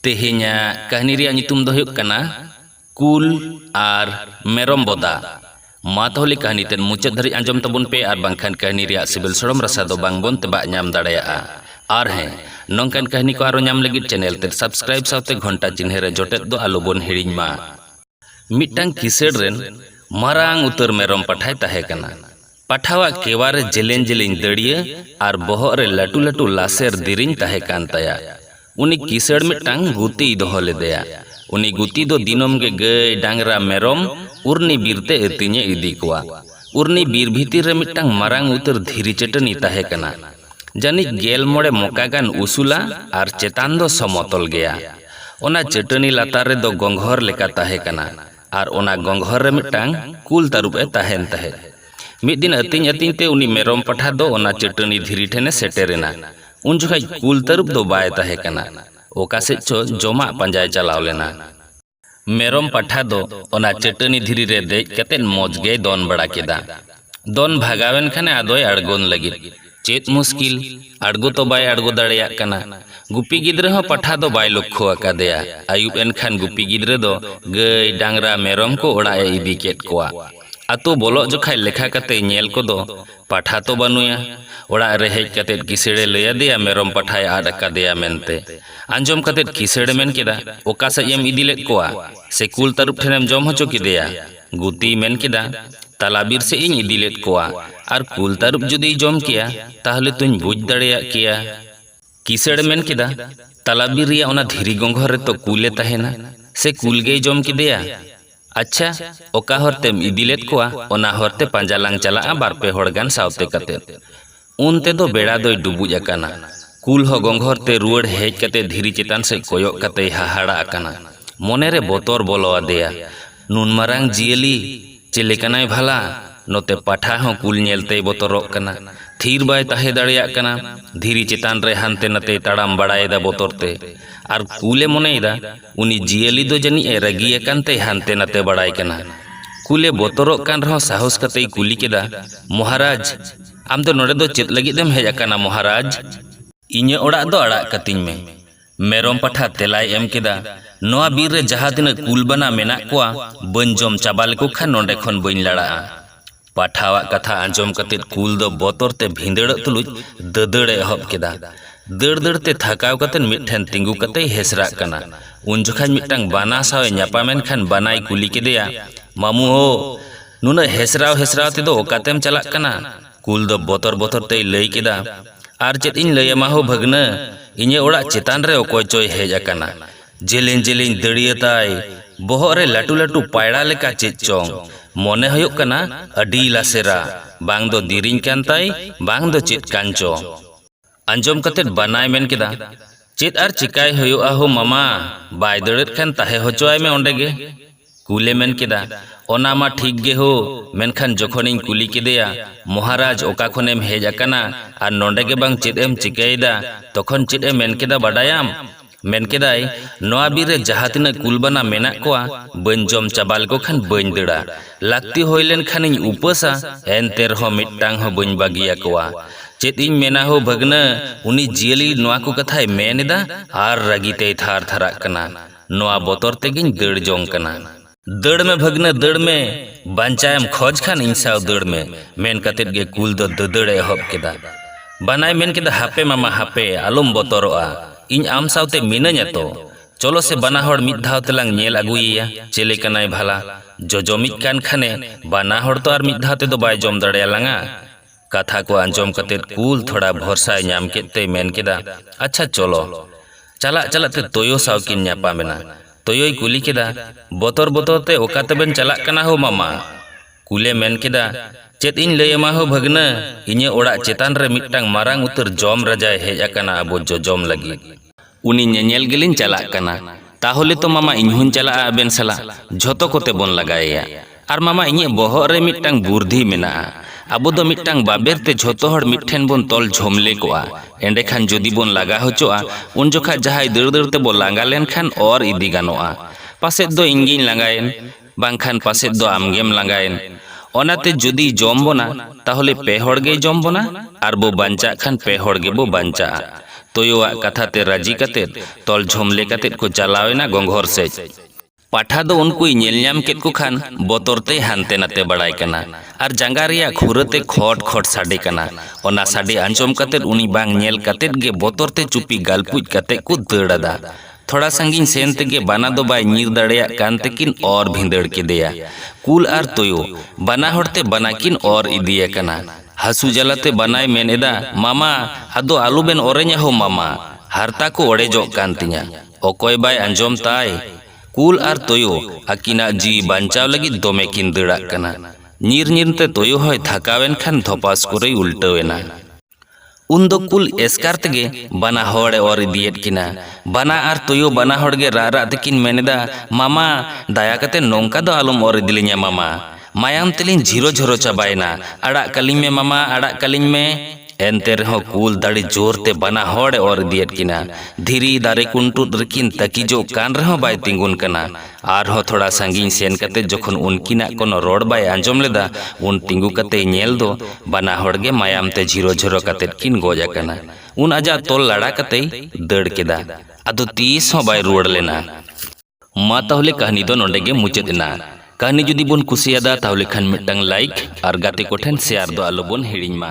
ᱛᱮᱦᱮᱧᱟᱜ ᱠᱟᱹᱦᱱᱤ ᱨᱮᱭᱟᱜ ᱧᱩᱛᱩᱢ ᱫᱚ ᱦᱩᱭᱩᱜ ᱠᱟᱱᱟ ᱠᱩᱞ ᱟᱨ ᱢᱮᱨᱚᱢ ᱵᱚᱫᱟ ᱢᱟ ᱛᱟᱦᱚᱞᱮ ᱠᱟᱹᱦᱱᱤ ᱛᱮᱫ ᱢᱩᱪᱟᱹᱫ ᱫᱷᱟᱹᱨᱤᱡ ᱟᱸᱡᱚᱢ ᱛᱟᱵᱚᱱ ᱯᱮ ᱟᱨ ᱵᱟᱝᱠᱷᱟᱱ ᱠᱟᱹᱦᱱᱤ ᱨᱮᱭᱟᱜ ᱥᱤᱵᱤᱞ ᱥᱚᱲᱚᱢ ᱨᱟᱥᱟ ᱫᱚ ᱵᱟᱝ ᱵᱚᱱ ᱛᱮᱵᱟᱜ ᱧᱟᱢ ᱫᱟᱲᱮᱭᱟᱜᱼᱟ ᱟᱨ ᱦᱮᱸ ᱱᱚᱝᱠᱟᱱ ᱠᱟᱹᱦᱱᱤ ᱠᱚ ᱟᱨᱚ ᱧᱟᱢ ᱞᱟᱹᱜᱤᱫ ᱪᱮᱱᱮᱞ ᱛᱮᱫ ᱥᱟᱵᱥᱠᱨᱟᱭᱤᱵ ᱥᱟᱶᱛᱮ ᱜᱷᱚᱱᱴᱟ ᱪᱤᱱᱦᱟᱹ ᱨᱮ ᱡᱚᱴᱮᱫ ᱫᱚ ᱟᱞᱚ ᱵᱚᱱ ᱦᱤᱲᱤᱧ ᱢᱟ ᱢᱤᱫᱴᱟᱝ ᱠᱤᱥᱟᱹᱬ ᱨᱮᱱ ᱢᱟᱨᱟᱝ ᱩᱛᱟᱹᱨ ᱢᱮᱨᱚᱢ ᱯᱟᱴᱷᱟᱭ ᱛᱟᱦᱮᱸ ᱠᱟᱱᱟ᱾ ᱯᱟᱴᱷᱟᱣᱟᱜ ᱠᱮᱣᱟ ᱨᱮ ᱡᱮᱞᱮᱧ ᱡᱮᱞᱮᱧ ᱫᱟᱹᱲᱭᱟᱹ ᱟᱨ ᱵᱚᱦᱚᱜ ᱨᱮ ᱞᱟᱹᱴᱩ ᱞᱟᱹᱴᱩ ᱞᱟᱥᱮᱨ ᱫᱮᱨᱮᱧ ᱛᱟᱦᱮᱸ ᱠᱟᱱ ᱛᱟᱭᱟ᱾ ᱩᱱᱤ ᱠᱤᱥᱟᱹᱬ ᱢᱤᱫᱴᱟᱝ ᱜᱩᱛᱤᱭ ᱫᱚᱦᱚ ᱞᱮᱫᱮᱭᱟ᱾ ᱩᱱᱤ ᱜᱩᱛᱤ ᱫᱚ ᱫᱤᱱᱟᱹᱢ ᱜᱮ ᱜᱟᱹᱭ, ᱰᱟᱝᱨᱟ, ᱢᱮᱨᱚᱢ ᱩᱨᱱᱤ ᱵᱤᱨ ᱛᱮ ᱟᱹᱛᱤᱧ ᱮ ᱤᱫᱤ ᱠᱚᱣᱟ᱾ ᱩᱨᱱᱤ ᱵᱤᱨ ᱵᱷᱤᱛᱤᱨ ᱨᱮ ᱢᱤᱫᱴᱟᱝ ᱢᱟᱨᱟᱝ ᱩᱛᱟᱹᱨ ᱫᱷᱤᱨᱤ ᱪᱟᱹᱴᱟᱹᱱᱤ ᱛᱟᱦᱮᱸ ᱠᱟᱱᱟ᱾ ᱡᱟᱹᱱᱤᱡ ᱜᱮᱞ ᱢᱚᱬᱮ ᱢᱚᱠᱟ ᱜᱟᱱ ᱩᱥᱩᱞᱟ ᱟᱨ ᱪᱮᱛᱟᱱ ᱫᱚ ᱥᱚᱢᱚᱛᱚᱞ ᱜᱮᱭᱟ᱾ ᱚᱱᱟ ᱪᱟᱹᱴᱟᱹᱱᱤ ᱞᱟᱛᱟᱨ ᱨᱮ ᱫᱚ ᱜᱚᱸᱜᱷᱚᱨ ᱞᱮᱠᱟ ᱛᱟᱦᱮᱸ ᱠᱟᱱᱟ ᱟᱨ ᱚᱱᱟ ᱜᱚᱸᱜᱷᱚᱨ ᱨᱮ ᱢᱤᱫᱴᱟᱝ ᱠᱩᱞ ᱛᱟᱹᱨᱩᱵ ᱮ ᱛᱟᱦᱮᱸᱱ ᱛᱟᱦᱮᱸᱫ᱾ ᱢᱤᱫ ᱫᱤᱱ ᱟᱹᱛᱤᱧ ᱟᱹᱛᱤᱧ ᱛᱮ ᱩᱱᱤ ᱢᱮᱨᱚᱢ ᱯᱟᱴᱷᱟ ᱫᱚ ᱚᱱᱟ ᱪᱟᱹᱴᱟᱹᱱᱤ ᱫᱷᱤᱨᱤ ᱴᱷᱮᱱ ᱮ ᱥᱮᱴᱮᱨ ᱮᱱᱟ᱾ ᱩᱱ ᱡᱚᱠᱷᱟᱡ ᱠᱩᱞ ᱛᱟᱹᱨᱩᱵ ᱫᱚ ᱵᱟᱭ ᱛᱟᱦᱮᱸ ᱠᱟᱱᱟ᱾ ᱚᱠᱟ ᱥᱮᱫ ᱪᱚ ᱡᱚᱢᱟᱜ ᱯᱟᱸᱡᱟᱭ ᱪᱟᱞᱟᱣ ᱞᱮᱱᱟ᱾ ᱢᱮᱨᱚᱢ ᱯᱟᱴᱷᱟ ᱫᱚ ᱚᱱᱟ ᱪᱟᱹᱴᱟᱹᱱᱤ ᱫᱷᱤᱨᱤ ᱨᱮ ᱫᱮᱡ ᱠᱟᱛᱮ ᱢᱚᱡᱽ ᱜᱮᱭ ᱫᱚᱱ ᱵᱟᱲᱟ ᱠᱮᱫᱟ᱾ ᱫᱚᱱ ᱵᱷᱟᱜᱟᱣᱮᱱ ᱠᱷᱟᱱᱮ ᱟᱫᱚᱭ ᱟᱬᱜᱚᱱ ᱞᱟᱹᱜᱤᱫ᱾ ᱪᱮᱫ ᱢᱩᱥᱠᱤᱞ, ᱟᱬᱜᱚ ᱛᱚ ᱵᱟᱭ ᱟᱬᱜᱚ ᱫᱟᱲᱮᱭᱟᱜ ᱠᱟᱱᱟ᱾ ᱜᱩᱯᱤ ᱜᱤᱫᱽᱨᱟᱹ ᱦᱚᱸ ᱯᱟᱴᱷᱟ ᱫᱚ ᱵᱟᱭ ᱞᱚᱠᱠᱷᱚ ᱟᱠᱟᱫᱮᱭᱟ᱾ ᱟᱹᱭᱩᱵ ᱮᱱ ᱠᱷᱟᱱ ᱜᱩᱯᱤ ᱜᱤᱫᱽᱨᱟᱹ ᱫᱚ ᱜᱟᱹᱭ, ᱰᱟᱝᱨᱟ, ᱢᱮᱨᱚᱢ ᱠᱚ ᱚᱲᱟᱜ ᱮ ᱤᱫᱤ ᱠᱮᱫ ᱠᱚᱣᱟ᱾ ᱟᱹᱛᱩ ᱵᱚᱞᱚᱜ ᱡᱚᱠᱷᱟᱡ ᱞᱮᱠᱷᱟ ᱠᱟᱛᱮᱭ ᱧᱮᱞ ᱠᱚᱫᱚ ᱯᱟᱴᱷᱟ ᱛᱚ ᱵᱟᱹᱱᱩᱭᱟ᱾ ᱚᱲᱟᱜ ᱨᱮ ᱦᱮᱡ ᱠᱟᱛᱮ ᱠᱤᱥᱟᱹᱬᱮ ᱞᱟᱹᱭ ᱟᱫᱮᱭᱟ ᱢᱮᱨᱚᱢ ᱯᱟᱴᱷᱟᱭ ᱟᱫ ᱟᱠᱟᱫᱮᱭᱟ ᱢᱮᱱᱛᱮ᱾ ᱟᱸᱡᱚᱢ ᱠᱟᱛᱮ ᱠᱤᱥᱟᱹᱬᱮ ᱢᱮᱱ ᱠᱮᱫᱟ, ᱚᱠᱟ ᱥᱮᱡ ᱮᱢ ᱤᱫᱤ ᱞᱮᱫ ᱠᱚᱣᱟ? ᱥᱮ ᱠᱩᱞ ᱛᱟᱹᱨᱩᱵ ᱴᱷᱮᱱᱮᱢ ᱡᱚᱢ ᱦᱚᱪᱚ ᱠᱮᱫᱮᱭᱟ? ᱜᱩᱛᱤᱭ ᱢᱮᱱ ᱠᱮᱫᱟ, ᱛᱟᱞᱟ ᱵᱤᱨ ᱥᱮᱡ ᱤᱧ ᱤᱫᱤ ᱞᱮᱫ ᱠᱚᱣᱟ᱾ ᱟᱨ ᱠᱩᱞ ᱛᱟᱹᱨᱩᱵ ᱡᱩᱫᱤᱭ ᱡᱚᱢ ᱠᱮᱭᱟ ᱛᱟᱦᱞᱮ ᱛᱚᱧ ᱵᱩᱡ ᱫᱟᱲᱮᱭᱟᱜ ᱠᱮᱭᱟ᱾ ᱠᱤᱥᱟᱹᱬᱮ ᱢᱮᱱ ᱠᱮᱫᱟ, ᱛᱟᱞᱟ ᱵᱤᱨ ᱨᱮᱭᱟᱜ ᱚᱱᱟ ᱫᱷᱤᱨᱤ ᱜᱚᱸᱜᱷᱚᱨ ᱨᱮ ᱛᱚ ᱠᱩᱞ ᱮ ᱛᱟᱦᱮᱸᱱᱟ, ᱥᱮ ᱠᱩᱞ ᱜᱮᱭ ᱡᱚᱢ ᱠᱮᱫᱮᱭᱟ? ᱟᱪᱪᱷᱟ, ᱚᱠᱟ ᱦᱚᱨ ᱛᱮᱢ ᱤᱫᱤ ᱞᱮᱫ ᱠᱚᱣᱟ ᱚᱱᱟ ᱦᱚᱨ ᱛᱮ ᱯᱟᱸᱡᱟ ᱞᱟᱝ ᱪᱟᱞᱟᱜᱼᱟ ᱵᱟᱨ ᱯᱮ ᱦᱚᱲ ᱜᱟᱱ ᱥᱟᱶᱛᱮ ᱠᱟᱛᱮ᱾ ᱩᱱ ᱛᱮᱫᱚ ᱵᱮᱲᱟ ᱫᱚᱭ ᱰᱩᱵᱩᱡ ᱟᱠᱟᱱᱟ᱾ ᱠᱩᱞ ᱦᱚᱸ ᱜᱚᱸᱜᱷᱚᱨ ᱛᱮ ᱨᱩᱣᱟᱹᱲ ᱦᱮᱡ ᱠᱟᱛᱮ ᱫᱷᱤᱨᱤ ᱪᱮᱛᱟᱱ ᱥᱮᱫ ᱠᱚᱭᱚᱜ ᱠᱟᱛᱮᱭ ᱦᱟᱦᱟᱲᱟ ᱟᱠᱟᱱᱟ᱾ ᱢᱚᱱᱮ ᱨᱮ ᱵᱚᱛᱚᱨ ᱵᱚᱞᱚ ᱟᱫᱮᱭᱟ᱾ ᱱᱩᱱ ᱢᱟᱨᱟᱝ ᱡᱤᱭᱟᱹᱞᱤ ᱪᱮ ᱞᱮᱠᱟᱱᱟᱭ ᱵᱷᱟᱞᱟ? ᱱᱚᱛᱮ ᱯᱟᱴᱷᱟ ᱦᱚᱸ ᱠᱩᱞ ᱧᱮᱞ ᱛᱮᱭ ᱵᱚᱛᱚᱨᱚᱜ ᱠᱟᱱᱟ᱾ ᱛᱷᱤᱨ ᱵᱟᱭ ᱛᱟᱦᱮᱸ ᱫᱟᱲᱮᱭᱟᱜ ᱠᱟᱱᱟ᱾ ᱫᱷᱤᱨᱤ ᱪᱮᱛᱟᱱ ᱨᱮ ᱦᱟᱱᱛᱮ ᱱᱟᱛᱮᱭ ᱛᱟᱲᱟᱢ ᱵᱟᱲᱟᱭ ᱮᱫᱟ ᱵᱚᱛᱚᱨ ᱛᱮ᱾ ᱟᱨ ᱠᱩᱞ ᱮ ᱢᱚᱱᱮ ᱮᱫᱟ ᱩᱱᱤ ᱡᱤᱭᱟᱹᱞᱤ ᱫᱚ ᱡᱟᱹᱱᱤᱡ ᱮ ᱨᱟᱹᱜᱤ ᱟᱠᱟᱱ ᱛᱮᱭ ᱦᱟᱱᱛᱮ ᱱᱟᱛᱮ ᱵᱟᱲᱟᱭ ᱠᱟᱱᱟ᱾ ᱠᱩᱞ ᱮ ᱵᱚᱛᱚᱨᱚᱜ ᱠᱟᱱ ᱨᱮᱦᱚᱸ ᱥᱟᱦᱚᱥ ᱠᱟᱛᱮᱭ ᱠᱩᱞᱤ ᱠᱮᱫᱟ, ᱢᱚᱦᱟᱨᱟᱡᱽ! ᱟᱢ ᱫᱚ ᱱᱚᱰᱮ ᱫᱚ ᱪᱮᱫ ᱞᱟᱹᱜᱤᱫ ᱮᱢ ᱦᱮᱡ ᱟᱠᱟᱱᱟ ᱢᱚᱦᱟᱨᱟᱡᱽ? ᱤᱧᱟᱹᱜ ᱚᱲᱟᱜ ᱫᱚ ᱟᱲᱟᱜ ᱠᱟᱹᱛᱤᱧ ᱢᱮ᱾ ᱢᱮᱨᱚᱢ ᱯᱟᱴᱷᱟ ᱛᱮᱞᱟᱭ ᱮᱢ ᱠᱮᱫᱟ, ᱱᱚᱶᱟ ᱵᱤᱨ ᱨᱮ ᱡᱟᱦᱟᱸ ᱛᱤᱱᱟᱹᱜ ᱠᱩᱞ ᱵᱟᱱᱟ ᱢᱮᱱᱟᱜ ᱠᱚᱣᱟ, ᱵᱟᱹᱧ ᱡᱚᱢ ᱪᱟᱵᱟ ᱞᱮᱠᱚ ᱠᱷᱟᱱ ᱱᱚᱸᱰᱮ ᱠᱷᱚᱱ ᱵᱟᱹᱧ ᱞᱟᱲᱟᱜᱼᱟ᱾ ᱯᱟᱴᱷᱟ ᱟᱜ ᱠᱟᱛᱷᱟ ᱟᱸᱡᱚᱢ ᱠᱟᱛᱮ ᱠᱩᱞ ᱫᱚ ᱵᱚᱛᱚᱨ ᱛᱮ ᱵᱷᱤᱸᱫᱟᱹᱲᱚᱜ ᱛᱩᱞᱩᱡ ᱫᱟᱹᱫᱟᱹᱲ ᱮ ᱮᱦᱚᱵ ᱠᱮᱫᱟ᱾ ᱫᱟᱹᱲ ᱫᱟᱹᱲ ᱛᱮ ᱛᱷᱟᱠᱟᱣ ᱠᱟᱛᱮ ᱢᱤᱫ ᱴᱷᱮᱱ ᱛᱤᱸᱜᱩ ᱠᱟᱛᱮᱭ ᱦᱮᱥᱨᱟᱜ ᱠᱟᱱᱟ᱾ ᱩᱱ ᱡᱚᱠᱷᱟᱡ ᱢᱤᱫᱴᱟᱝ ᱵᱟᱱᱟ ᱥᱟᱶ ᱮ ᱧᱟᱯᱟᱢ ᱮᱱ ᱠᱷᱟᱱ ᱵᱟᱱᱟᱭ ᱠᱩᱞᱤ ᱠᱮᱫᱮᱭᱟ, ᱢᱟᱢᱩ ᱦᱳ! ᱱᱩᱱᱟᱹᱜ ᱦᱮᱥᱨᱟᱣ ᱦᱮᱥᱨᱟᱣ ᱛᱮᱫᱚ ᱚᱠᱟ ᱛᱮᱢ ᱪᱟᱞᱟᱜ ᱠᱟᱱᱟ? ᱠᱩᱞ ᱫᱚ ᱵᱚᱛᱚᱨ ᱵᱚᱛᱚᱨ ᱛᱮᱭ ᱞᱟᱹᱭ ᱠᱮᱫᱟ ᱟᱨ ᱪᱮᱫ ᱤᱧ ᱞᱟᱹᱭ ᱟᱢᱟ ᱦᱳ ᱵᱷᱟᱹᱜᱽᱱᱟᱹ ᱤᱧᱟᱹᱜ ᱚᱲᱟᱜ ᱪᱮᱛᱟᱱ ᱨᱮ ᱚᱠᱚᱭ ᱪᱚᱭ ᱦᱮᱡ ᱟᱠᱟᱱᱟ ᱡᱮᱞᱮᱧ ᱡᱮᱞᱮᱧ ᱫᱟᱹᱲᱤᱭᱟᱹ ᱛᱟᱭ ᱵᱚᱦᱚᱜ ᱨᱮ ᱞᱟᱹᱴᱩ ᱞᱟᱹᱴᱩ ᱯᱟᱭᱲᱟ ᱞᱮᱠᱟ ᱪᱮᱫ ᱪᱚᱝ ᱢᱚᱱᱮ ᱦᱩᱭᱩᱜ ᱠᱟᱱᱟ ᱟᱹᱰᱤ ᱞᱟᱥᱮᱨᱟ ᱵᱟᱝ ᱫᱚ ᱫᱮᱨᱮᱧ ᱠᱟᱱ ᱛᱟᱭ ᱵᱟᱝ ᱫᱚ ᱪᱮᱫ ᱠᱟᱱ ᱪᱚ ᱟᱸᱡᱚᱢ ᱠᱟᱛᱮᱫ ᱵᱟᱱᱟᱭ ᱢᱮᱱ ᱠᱮᱫᱟ, ᱪᱮᱫ ᱟᱨ ᱪᱮᱠᱟᱭ ᱦᱳᱭᱳᱜᱼᱟ ᱦᱳ ᱢᱟᱢᱟ, ᱵᱟᱭ ᱫᱟᱹᱲᱮᱫ ᱠᱷᱟᱱ ᱛᱟᱦᱮᱸ ᱦᱚᱪᱚ ᱟᱭ ᱢᱮ ᱚᱸᱰᱮ ᱜᱮ᱾ ᱠᱩᱞ ᱮ ᱢᱮᱱ ᱠᱮᱫᱟ, ᱚᱱᱟ ᱢᱟ ᱴᱷᱤᱠ ᱜᱮ ᱦᱳ, ᱢᱮᱱᱠᱷᱟᱱ ᱡᱚᱠᱷᱚᱱ ᱤᱧ ᱠᱩᱞᱤ ᱠᱮᱫᱮᱭᱟ, ᱢᱚᱦᱟᱨᱟᱡᱽ ᱚᱠᱟ ᱠᱷᱚᱱ ᱮᱢ ᱦᱮᱡ ᱟᱠᱟᱱᱟ ᱟᱨ ᱱᱚᱸᱰᱮ ᱜᱮ ᱵᱟᱝ ᱪᱮᱫ ᱮᱢ ᱪᱮᱠᱟᱹᱭᱮᱫᱟ, ᱛᱚᱠᱷᱚᱱ ᱪᱮᱫ ᱮ ᱢᱮᱱ ᱠᱮᱫᱟ ᱵᱟᱰᱟᱭᱟᱢ? ᱢᱮᱱ ᱠᱮᱫᱟᱭ ᱱᱚᱣᱟ ᱵᱤᱨ ᱨᱮ ᱡᱟᱦᱟᱸ ᱛᱤᱱᱟᱹᱜ ᱠᱩᱞ ᱵᱟᱱᱟ ᱢᱮᱱᱟᱜ ᱠᱚᱣᱟ ᱵᱟᱹᱧ ᱡᱚᱢ ᱪᱟᱵᱟ ᱞᱮᱠᱚ ᱠᱷᱟᱱ ᱵᱟᱹᱧ ᱫᱟᱹᱲᱟ ᱞᱟᱹᱠᱛᱤ ᱦᱩᱭ ᱞᱮᱱ ᱠᱷᱟᱱᱤᱧ ᱩᱯᱟᱹᱥᱟ ᱮᱱᱛᱮ ᱨᱮᱦᱚᱸ ᱢᱤᱫᱴᱟᱝ ᱦᱚᱸ ᱵᱟᱹᱧ ᱵᱟᱹᱜᱤᱭᱟᱠᱚᱣᱟ ᱪᱮᱫ ᱤᱧ ᱢᱮᱱᱟ ᱦᱳ ᱵᱷᱟᱹᱜᱽᱱᱟᱹ ᱩᱱᱤ ᱡᱤᱭᱟᱹᱞᱤ ᱱᱚᱣᱟ ᱠᱚ ᱠᱟᱛᱷᱟᱭ ᱢᱮᱱ ᱮᱫᱟ ᱟᱨ ᱨᱟᱹᱜᱤ ᱛᱮᱭ ᱛᱷᱟᱨ ᱛᱷᱟᱨᱟᱜ ᱠᱟᱱᱟ ᱱᱚᱣᱟ ᱵᱚᱛᱚᱨ ᱛᱮᱜᱮᱧ ᱫᱟᱹᱲ ᱡᱚᱝ ᱠᱟᱱᱟ ᱫᱟᱹᱲ ᱢᱮ ᱵᱷᱟᱹᱜᱽᱱᱟᱹ ᱫᱟᱹᱲ ᱢᱮ ᱵᱟᱧᱪᱟᱣᱮᱢ ᱠᱷᱚᱡᱽ ᱠᱷᱟᱱ ᱤᱧ ᱥᱟᱶ ᱫᱟᱹᱲ ᱢᱮ ᱢᱮᱱ ᱠᱟᱛᱮᱫ ᱜᱮ ᱠᱩᱞ ᱫᱚ ᱫᱟᱹᱫᱟᱹᱲᱮ ᱮᱦᱚᱵ ᱠᱮᱫᱟ ᱵᱟᱱᱟᱭ ᱢᱮᱱ ᱠᱮᱫᱟ ᱦᱟᱯᱮ ᱢᱟᱢᱟ ᱦᱟᱯᱮ ᱟᱞᱚᱢ ᱵᱚᱛᱚᱨᱚᱜᱼᱟ ᱤᱧ ᱟᱢ ᱥᱟᱶᱛᱮ ᱢᱤᱱᱟᱹᱧᱟ ᱛᱚ ᱪᱚᱞᱚ ᱥᱮ ᱵᱟᱱᱟ ᱦᱚᱲ ᱢᱤᱫ ᱫᱷᱟᱣ ᱛᱮᱞᱟᱝ ᱧᱮᱞ ᱟᱹᱜᱩᱭᱮᱭᱟ ᱪᱮᱞᱮ ᱠᱟᱱᱟᱭ ᱵᱷᱟᱞᱟ ᱡᱚᱡᱚᱢᱤᱡ ᱠᱟᱱ ᱠᱷᱟᱱᱮ ᱵᱟᱱᱟ ᱦᱚᱲ ᱛᱚ ᱟᱨ ᱢᱤᱫ ᱫᱷᱟᱣ ᱛᱮᱫᱚ ᱵᱟᱭ ᱡᱚᱢ ᱫᱟᱲᱮᱭᱟᱞᱟᱝᱟ ᱠᱟᱛᱷᱟ ᱠᱚ ᱟᱸᱡᱚᱢ ᱠᱟᱛᱮ ᱠᱩᱞ ᱛᱷᱚᱲᱟ ᱵᱷᱚᱨᱥᱟᱭ ᱧᱟᱢ ᱠᱮᱫ ᱛᱮᱭ ᱢᱮᱱ ᱠᱮᱫᱟ, ᱟᱪᱪᱷᱟ ᱪᱚᱞᱚ᱾ ᱪᱟᱞᱟᱜ ᱪᱟᱞᱟᱜ ᱛᱮ ᱛᱳᱭᱳ ᱥᱟᱶ ᱠᱤᱱ ᱧᱟᱯᱟᱢ ᱮᱱᱟ᱾ ᱛᱳᱭᱳᱭ ᱠᱩᱞᱤ ᱠᱮᱫᱟ, ᱵᱚᱛᱚᱨ ᱵᱚᱛᱚᱨ ᱛᱮ ᱚᱠᱟ ᱛᱮᱵᱮᱱ ᱪᱟᱞᱟᱜ ᱠᱟᱱᱟ ᱦᱳ ᱢᱟᱢᱟ? ᱠᱩᱞᱮ ᱢᱮᱱ ᱠᱮᱫᱟ, ᱪᱮᱫ ᱤᱧ ᱞᱟᱹᱭ ᱟᱢᱟ ᱦᱳ ᱵᱷᱟᱹᱜᱽᱱᱟᱹ, ᱤᱧᱟᱹᱜ ᱚᱲᱟᱜ ᱪᱮᱛᱟᱱ ᱨᱮ ᱢᱤᱫᱴᱟᱝ ᱢᱟᱨᱟᱝ ᱩᱛᱟᱹᱨ ᱡᱚᱢ ᱨᱟᱡᱟᱭ ᱦᱮᱡ ᱟᱠᱟᱱᱟ ᱟᱵᱚ ᱡᱚᱡᱚᱢ ᱞᱟᱹᱜᱤᱫ᱾ ᱩᱱᱤ ᱧᱮᱧᱮᱞ ᱜᱮᱞᱤᱧ ᱪᱟᱞᱟᱜ ᱠᱟᱱᱟ᱾ ᱛᱟᱦᱚᱞᱮ ᱛᱚ ᱢᱟᱢᱟ ᱤᱧ ᱦᱚᱸᱧ ᱪᱟᱞᱟᱜᱼᱟ ᱟᱵᱮᱱ ᱥᱟᱞᱟᱜ᱾ ᱡᱷᱚᱛᱚ ᱠᱚᱛᱮ ᱵᱚᱱ ᱞᱟᱜᱟᱭᱮᱭᱟ᱾ ᱟᱨ ᱢᱟᱢᱟ ᱤᱧᱟᱹᱜ ᱵᱚᱦᱚᱜ ᱨᱮ ᱢᱤᱫᱴᱟᱝ ᱵᱩᱨᱫᱷᱤ ᱢᱮᱱᱟᱜᱼᱟ᱾ ᱟᱵᱚ ᱫᱚ ᱢᱤᱫᱴᱟᱝ ᱵᱟᱵᱮᱨ ᱛᱮ ᱡᱷᱚᱛᱚ ᱦᱚᱲ ᱢᱤᱫ ᱴᱷᱮᱱ ᱵᱚᱱ ᱛᱚᱞ ᱡᱷᱚᱢᱞᱮ ᱠᱚᱜᱼᱟ᱾ ᱮᱸᱰᱮ ᱠᱷᱟᱱ ᱡᱩᱫᱤ ᱵᱚᱱ ᱞᱟᱜᱟ ᱦᱚᱪᱚᱜᱼᱟ, ᱩᱱ ᱡᱚᱠᱷᱟᱜ ᱡᱟᱦᱟᱸᱭ ᱫᱟᱹᱲ ᱫᱟᱹᱲ ᱛᱮᱵᱚ ᱞᱟᱸᱜᱟ ᱞᱮᱱ ᱠᱷᱟᱱ ᱚᱨ ᱤᱫᱤ ᱜᱟᱱᱚᱜᱼᱟ᱾ ᱯᱟᱥᱮᱫ ᱫᱚ ᱤᱧ ᱜᱮᱧ ᱞᱟᱸᱜᱟᱭᱮᱱ᱾ ᱵᱟᱝᱠᱷᱟᱱ ᱯᱟᱥᱮᱫ ᱫᱚ ᱟᱢᱜᱮᱢ ᱞᱟᱸᱜᱟᱭᱮᱱ ᱚᱱᱟᱛᱮ ᱡᱩᱫᱤ ᱡᱚᱢ ᱵᱚᱱᱟ ᱛᱟᱦᱚᱞᱮ ᱯᱮ ᱦᱚᱲ ᱜᱮᱭ ᱡᱚᱢ ᱵᱚᱱᱟ ᱟᱨ ᱵᱚ ᱵᱟᱧᱪᱟᱜ ᱠᱷᱟᱱ ᱯᱮ ᱦᱚᱲ ᱜᱮᱵᱚ ᱵᱟᱧᱪᱟᱜᱼᱟ ᱛᱚᱭᱚᱣᱟᱜ ᱠᱟᱛᱷᱟ ᱛᱮ ᱨᱟᱹᱡᱤ ᱠᱟᱛᱮ ᱛᱚᱞ ᱡᱷᱚᱢᱞᱮ ᱠᱟᱛᱮ ᱠᱚ ᱪᱟᱞᱟᱣ ᱮᱱᱟ ᱜᱚᱸᱜᱷᱚᱨ ᱥᱮᱡ ᱯᱟᱴᱷᱟ ᱫᱚ ᱩᱱᱠᱩᱭ ᱧᱮᱞ ᱧᱟᱢ ᱠᱮᱫ ᱠᱚ ᱠᱷᱟᱱ ᱵᱚᱛᱚᱨ ᱛᱮᱭ ᱦᱟᱱᱛᱮ ᱱᱟᱛᱮ ᱵᱟᱲᱟᱭ ᱠᱟᱱᱟ ᱟᱨ ᱡᱟᱸᱜᱟ ᱨᱮᱭᱟᱜ ᱠᱷᱩᱨᱟᱹ ᱛᱮ ᱠᱷᱚᱴ ᱠᱷᱚᱴ ᱥᱟᱰᱮ ᱠᱟᱱᱟ ᱚᱱᱟ ᱥᱟᱰᱮ ᱟᱸᱡᱚᱢ ᱠᱟᱛᱮ ᱩᱱᱤ ᱵᱟᱝ ᱧᱮᱞ ᱠᱟᱛᱮ ᱜᱮ ᱵᱚᱛᱚᱨ ᱛᱮ ᱪᱩᱯᱤ ᱜᱟᱞᱯᱩᱡ ᱠᱟᱛᱮ ᱠᱚ ᱫᱟᱹᱲ ᱟᱫᱟ ᱛᱷᱚᱲᱟ ᱥᱟᱺᱜᱤᱧ ᱥᱮᱱ ᱛᱮᱜᱮ ᱵᱟᱱᱟ ᱫᱚ ᱵᱟᱭ ᱧᱤᱨ ᱫᱟᱲᱮᱭᱟᱜ ᱠᱟᱱ ᱛᱮᱠᱤᱱ ᱚᱨ ᱵᱷᱤᱸᱫᱟᱹᱲ ᱠᱮᱫᱮᱭᱟ᱾ ᱠᱩᱞ ᱟᱨ ᱛᱳᱭᱳ ᱵᱟᱱᱟ ᱦᱚᱲ ᱛᱮ ᱵᱟᱱᱟ ᱠᱤᱱ ᱚᱨ ᱤᱫᱤᱭᱮ ᱠᱟᱱᱟ᱾ ᱦᱟᱹᱥᱩ ᱡᱟᱞᱟ ᱛᱮ ᱵᱟᱱᱟᱭ ᱢᱮᱱ ᱮᱫᱟ ᱢᱟᱢᱟ ᱟᱫᱚ ᱟᱞᱚ ᱵᱮᱱ ᱚᱨᱮᱧᱟ ᱦᱳ ᱢᱟᱢᱟ, ᱦᱟᱨᱛᱟ ᱠᱚ ᱚᱲᱮᱡᱚᱜ ᱠᱟᱱ ᱛᱤᱧᱟ᱾ ᱚᱠᱚᱭ ᱵᱟᱭ ᱟᱸᱡᱚᱢ ᱛᱟᱭ᱾ ᱠᱩᱞ ᱟᱨ ᱛᱳᱭᱳ ᱟᱹᱠᱤᱱᱟᱜ ᱡᱤᱣᱤ ᱵᱟᱧᱪᱟᱣ ᱞᱟᱹᱜᱤᱫ ᱫᱚᱢᱮ ᱠᱤᱱ ᱫᱟᱹᱲᱟᱜ ᱠᱟᱱᱟ᱾ ᱧᱤᱨ ᱧᱤᱨ ᱛᱮ ᱛᱳᱭᱳ ᱦᱚᱸᱭ ᱛᱷᱟᱠᱟᱣ ᱮᱱ ᱠᱷᱟᱱ ᱫᱷᱚᱯᱟᱥ ᱠᱚᱨᱮᱭ ᱩᱞᱴᱟᱹᱣ ᱮᱱᱟ᱾ ᱩᱱ ᱫᱚ ᱠᱩᱞ ᱮᱥᱠᱟᱨ ᱛᱮᱜᱮ ᱵᱟᱱᱟ ᱦᱚᱲ ᱮ ᱚᱨ ᱤᱫᱤᱭᱮᱫ ᱠᱤᱱᱟ᱾ ᱵᱟᱱᱟ ᱟᱨ ᱛᱳᱭᱳ ᱵᱟᱱᱟ ᱦᱚᱲ ᱜᱮ ᱨᱟᱜ ᱨᱟᱜ ᱛᱮᱠᱤᱱ ᱢᱮᱱ ᱮᱫᱟ ᱢᱟᱢᱟ ᱫᱟᱭᱟ ᱠᱟᱛᱮ ᱱᱚᱝᱠᱟ ᱫᱚ ᱟᱞᱚᱢ ᱚᱨ ᱤᱫᱤ ᱞᱤᱧᱟ ᱢᱟᱢᱟ᱾ ᱢᱟᱭᱟᱢ ᱛᱮᱞᱤᱧ ᱡᱷᱤᱨᱚ ᱡᱷᱚᱨᱚ ᱪᱟᱵᱟᱭᱮᱱᱟ᱾ ᱟᱲᱟᱜ ᱠᱟᱞᱤᱧ ᱢᱮ ᱢᱟᱢᱟ ᱟᱲᱟᱜ ᱠᱟᱞᱤᱧ ᱢᱮ᱾ ᱮᱱᱛᱮ ᱨᱮᱦᱚᱸ ᱠᱩᱞ ᱫᱟᱲᱮ ᱡᱳᱨ ᱛᱮ ᱵᱟᱱᱟ ᱦᱚᱲ ᱮ ᱚᱨ ᱤᱫᱤᱭᱮᱫ ᱠᱤᱱᱟ᱾ ᱫᱷᱤᱨᱤ ᱫᱟᱨᱮ ᱠᱩᱱᱴᱩᱫ ᱨᱮᱠᱤᱱ ᱛᱟᱹᱠᱤᱡᱚᱜ ᱠᱟᱱ ᱨᱮᱦᱚᱸ ᱵᱟᱭ ᱛᱤᱸᱜᱩᱱ ᱠᱟᱱᱟ᱾ ᱟᱨᱦᱚᱸ ᱛᱷᱚᱲᱟ ᱥᱟᱺᱜᱤᱧ ᱥᱮᱱ ᱠᱟᱛᱮ ᱡᱚᱠᱷᱚᱱ ᱩᱱᱠᱤᱱᱟᱜ ᱠᱚᱱᱚ ᱨᱚᱲ ᱵᱟᱭ ᱟᱸᱡᱚᱢ ᱞᱮᱫᱟ ᱩᱱ ᱛᱤᱸᱜᱩ ᱠᱟᱛᱮᱭ ᱧᱮᱞ ᱫᱚ ᱵᱟᱱᱟ ᱦᱚᱲ ᱜᱮ ᱢᱟᱭᱟᱢ ᱛᱮ ᱡᱷᱤᱨᱚ ᱡᱷᱚᱨᱚ ᱠᱟᱛᱮ ᱠᱤᱱ ᱜᱚᱡ ᱟᱠᱟᱱᱟ᱾ ᱩᱱ ᱟᱡᱟᱜ ᱛᱚᱞ ᱞᱟᱲᱟ ᱠᱟᱛᱮᱭ ᱫᱟᱹᱲ ᱠᱮᱫᱟ᱾ ᱟᱫᱚ ᱛᱤᱥ ᱦᱚᱸ ᱵᱟᱭ ᱨᱩᱣᱟᱹᱲ ᱞᱮᱱᱟ᱾ ᱢᱟ ᱛᱟᱦᱚᱞᱮ ᱠᱟᱹᱦᱱᱤ ᱫᱚ ᱱᱚᱰᱮ ᱜᱮ ᱢᱩᱪᱟᱹᱫ ᱮᱱᱟ᱾ ᱠᱟᱹᱦᱱᱤ ᱡᱩᱫᱤ ᱵᱚᱱ ᱠᱩᱥᱤᱭᱟᱫᱟ ᱛᱟᱦᱚᱞᱮ ᱠᱷᱟᱱ ᱢᱤᱫᱴᱟᱝ ᱞᱟᱭᱤᱠ ᱟᱨ ᱜᱟᱛᱮ ᱠᱚ ᱴᱷᱮᱱ ᱥᱮᱭᱟᱨ ᱫᱚ ᱟᱞᱚ ᱵᱚᱱ ᱦᱤᱲᱤᱧ ᱢᱟ᱾